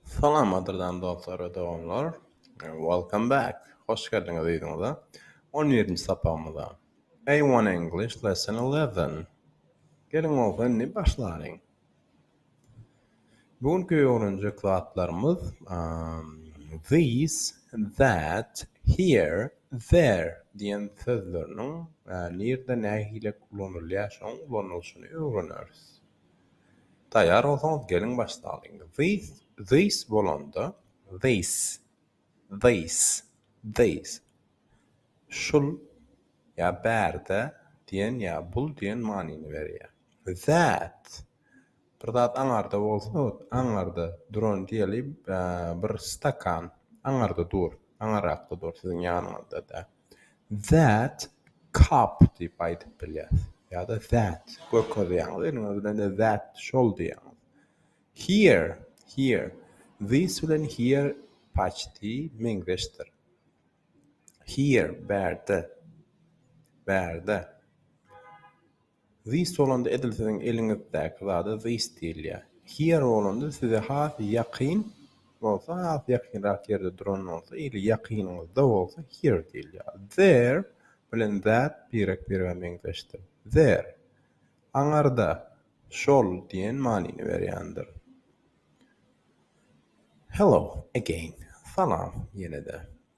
Salamadyrdan dostlar we doganlar. Welcome back. Hoş geldiňiz yzyňyza. On birinji sapagymyza. A one English lesson eleven. Geliň bolsa indi başlalyň. Bu günki öwrenjek zatlarymyz these, that, here, there diýen sözleriniň nirde nähili ulanylýar şoň ulanylyşyny öwreneris. Taýýar bolsaňyz geliň başlalyň. This, this bolanda, this, this, this, şul ýa bärde diýen ýa bul diýen manyny berýär. That, bir zat aňarda bolsa, aňarda duran diýeli, bir stakan aňarda dur, aňarakda dur, siziň ýanyňyzda däl. that cup diýip aýdyp bilýäs ýa-da that görkezýäňiz indi munuň bilen de that şol diýýäňiz here here this bilen here paçti meňzeşdir here bärde bärde This bolanda edil siziň eliňizdäki zada this diýilýär. Here bolanda size has ýakyn bolsa has ýakynrak ýerde duran bolsa ili ýakynyňyzda bolsa here diýilýär. There bilen that birek birege meňzeşdir. There, aňarda, şol diýen manyny berýändir. Hello again, salam ýene-de.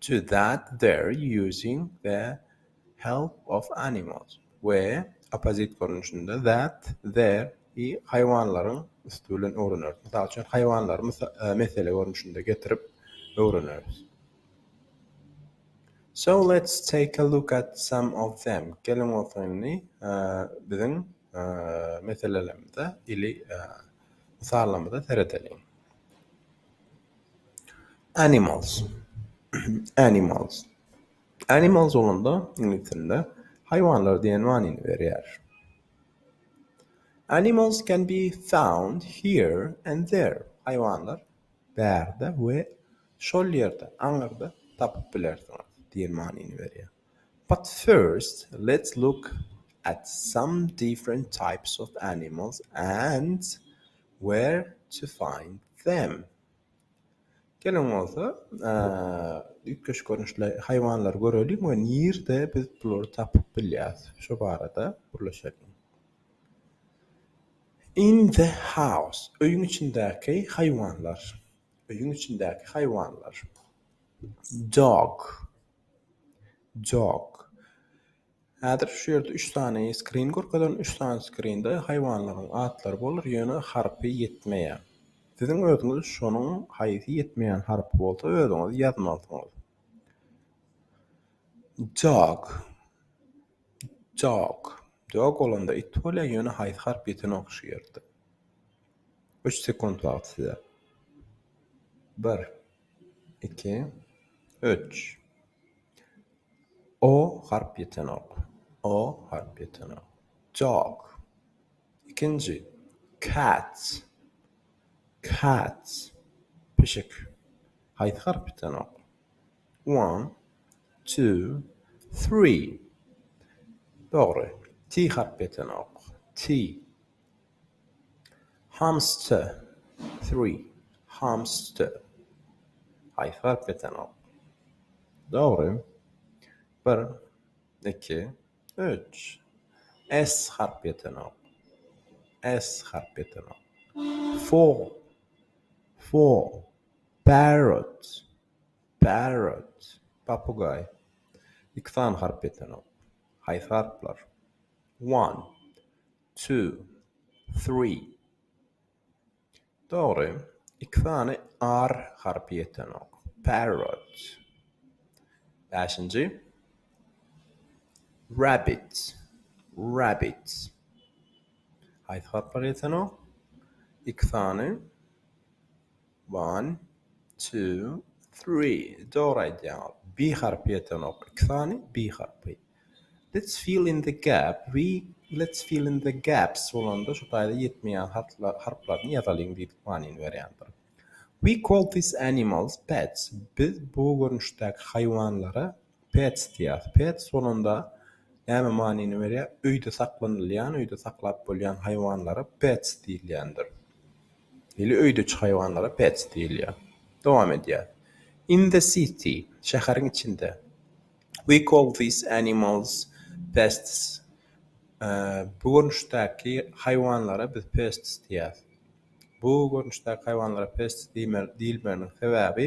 to that their using the help of animals we opposite görnüşinde that their i haýwanlaryň üsti bilen öwreneris. Mysal üçin, haýwanlary mesele görnüşinde getirip öwreneris. So let's take a look at some of them. Geliň bolsa indi biziň meselelerimize ili mysallarymyza seredeliň. Animals Animals Animals bolanda iňlis dilinde haýwanlar diýen manyny berýär. Animals can be found here and there. Haýwanlar bärde we şol ýerde, aňyrda tapyp bilersiňiz diýen manyny berýär. But first let's look at some different types of animals and where to find them. Geliň bolsa üýtgeşik görnüşli haýwanlary göreliň we nirde biz bulary tapyp bilýäris şu barada gürleşeliň. In the house öýüň içindäki haýwanlar. Öýüň içindäki haýwanlar. Dog Jok. Häzir şu ýerde üç sany skrin görkezerin. Üç sany skrinde haýwanlaryň atlary bolar, ýöne harpy ýetmeýär. Siziň özüňiz şonuň haýsy ýetmeýän harpy bolsa özüňiz ýazmalysyňyz. Jok. Jok. Jok bolanda it bolýar, ýöne haýsy harp ýetenok şu ýerde. Üç sekunt wagt size. Bir. iki, üç. O harp ýetenok. O harp ýetenok. Jok. Ikinji. Cats. Cats. Pişik. Haýsy harp ýetenok? One, two, three. Dogry. T harp ýetenok. T. Hamster, three, hamster, haýsy harp ýetenok? Dogry, bir, iki, üç. S harp ýetenok, S harp ýetenok. Four, four, parrot, parrot, papugaý. Iki sany harp ýetenok. Haýsy harplar? One, Two, three. Dogry, iki sany R harpy ýetenok. Parrot. Bäşinji. Rabbit, rabbit. Haýsy harplar ýetenok? Iki sany. One, two, three. Dogry aýdýaňyz. Bi harpy ýetenok. Iki sany bi harpy. Let's fill in the gap. We let's fill in the gaps bolanda şu taýda ýetmeýän harplar harplaryny ýazalyň diýdik manyny berýändir. We call these animals pets. Biz bu görnüşdäki haýwanlara Pets diýýäs. Pets bolanda näme manyny berýär? Öýde saklanylýan, öýde saklap bolýan haýwanlara pets diýilýändir. Ili öýdüçi haýwanlara pets diýilýär. Dowam edýäs. In the city, şäheriň içinde. We call these animals pests. Bu görnüşdäki haýwanlara biz pests diýýäs. Bu görnüşdäki haýwanlara pes diýilmeginiň sebäbi,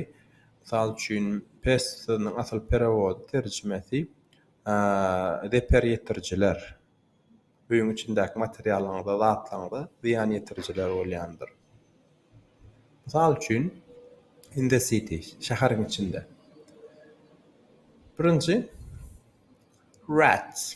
mysal üçin, pes sözüniň asyl perewody, terjimesi, zeper ýetirijiler, öýüň içindäki materiallaryňyza, zatlaryňyza zyýan ýetirijiler bolýandyr. Mysal üçin, in the city, şäheriň içinde. Birinji, rats.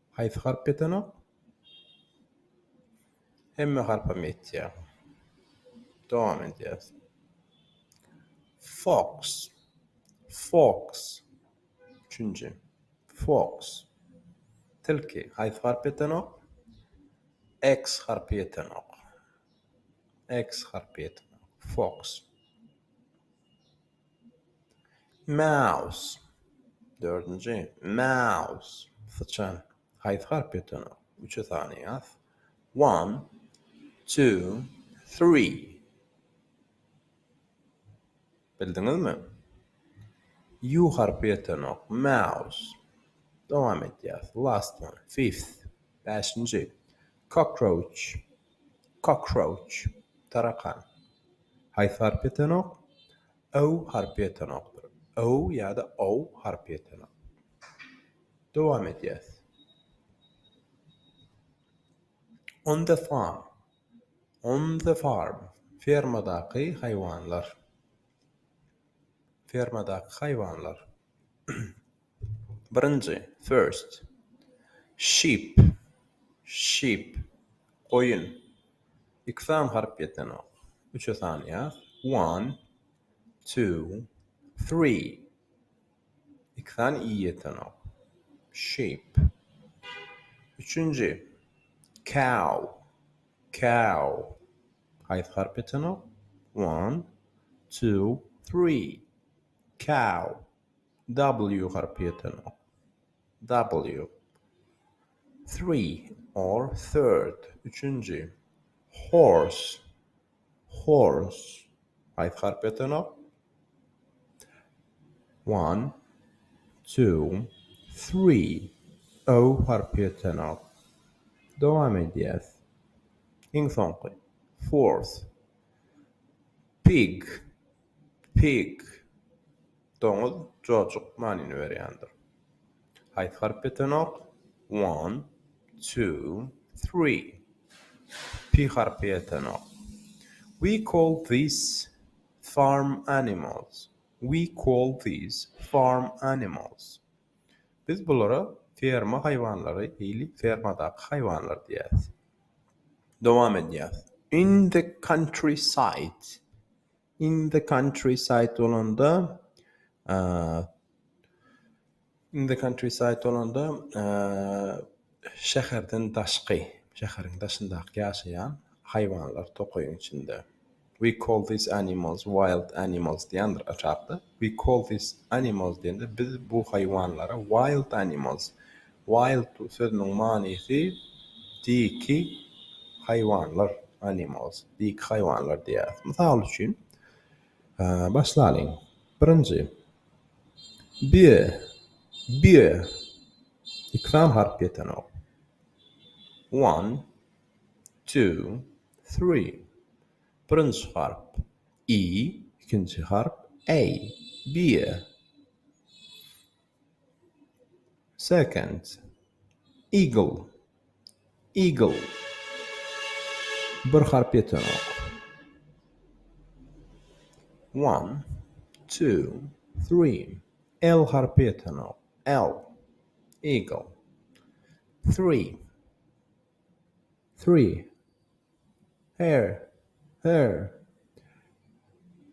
Haýsy harp ýetenok? Hemme harpam ýetýär. Dowam edýäs. Fox. Fox. Üçünji. Fox. Tilki. Haýsy harp ýetenok? X harpy ýetenok. X harpy ýetenok. Fox. Mouse, dördünji, Mouse, syçan, Haýsy harp ýatanok? Üçe sanaýas, One, two, three. Bildiňizmi? Ýu harpy ýatanok, Mouse. Dowam edýäs, Last one, fifth, bäşinji, Cockroach. Cockroach, tarakan. Haýsy harpy ýetenok? Ow harpy ýetenokdyr. Ow ýa-da ow harpy ýetenok. Dowam edýäs. On the farm. On the farm, fermadaky haýwanlar. Fermadaky haýwanlar. Birinji, first. Sheep, ship, goýun. Iki sany harp ýetenok. Üçe sanýas. One, two, three. Iki sany i ýetenok. Sheep. Üçünji, cow, cow. Haýsy harp ýetenok? One, two, three. Cow. W harpy ýetenok. W. Three or third, üçünji. Horse. Horse. Haýsy harp ýetenok? One, two, three. O harpy ýetenok. Dowam edýäs. Iň soňky. Fourth. Pig. Pig, doňuz, jojuk manyny berýändir. Haýsy harp ýetenok? One, two, three. P harpy ýetenok. We call these farm animals. We call these farm animals. Biz bulara ferma haýwanlary, hili fermadaky haýwanlar diýýäs. Dowam edýäs. In the countryside. In the countryside bolanda In the countryside bolanda şäherden daşky, şäheriň daşyndaky ýaşaýan haýwanlar tokaýyň içinde. We call these animals wild animals diýendir aşakda. We call these animals diýende biz bu haýwanlara wild animals, wild sözüniň manysy diki haýwanlar, animals, diki haýwanlar diýýäris. Mysal üçin, başlalyň. Birinji, bie, bie, iki sany harp ýetenok. One, two, three, birinji harp. i, ikinji harp, a, bir, second, eagle, eagle, bir harp ýetenok, one, two, three, l harpy ýetenok, l, eagle, three, three, Her. Her.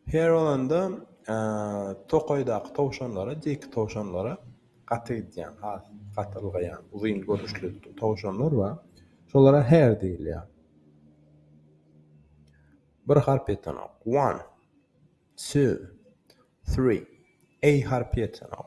Her bolanda tokaýdaky towşanlara, diýki towşanlara gaty gidýän, has gaty ylgaýan, uzyn görnüşli towşanlar bar. Şolara her diýilýär. Bir harp ýetenok. One. Two. Three. A harpy ýetenok.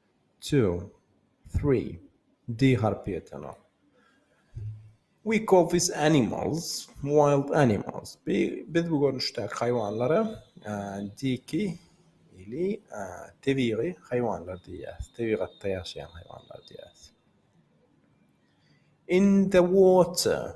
Two, three, D harpy ýetenok. We call these animals wild animals. Biz bu görnüşdäki haýwanlara diki ili tebigy haýwanlar diýýäris, tebigatda ýaşaýan haýwanlar diýýäris. In the water.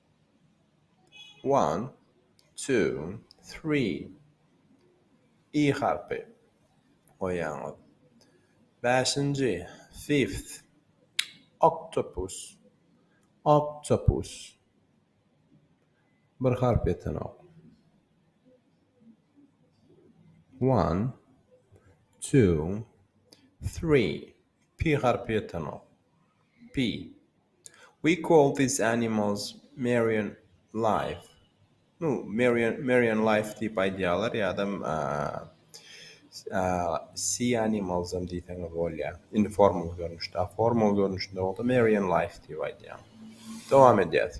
One, two, three. I harpy goýýaňyz. Bäşinji, fifth. Octopus, octopus. Bir harp ýetenok. One, two, three. P harpy ýetenok. P, We call these animals Marion Life. Nu, Marion, Marion Life diýip aýdýarlar ýa-da Sea Animals-am diýseňiz bolýar. Indi formal görnüşde. A formal görnüşinde bolsa Marion Life diýip aýdýar. Dowam edýäs.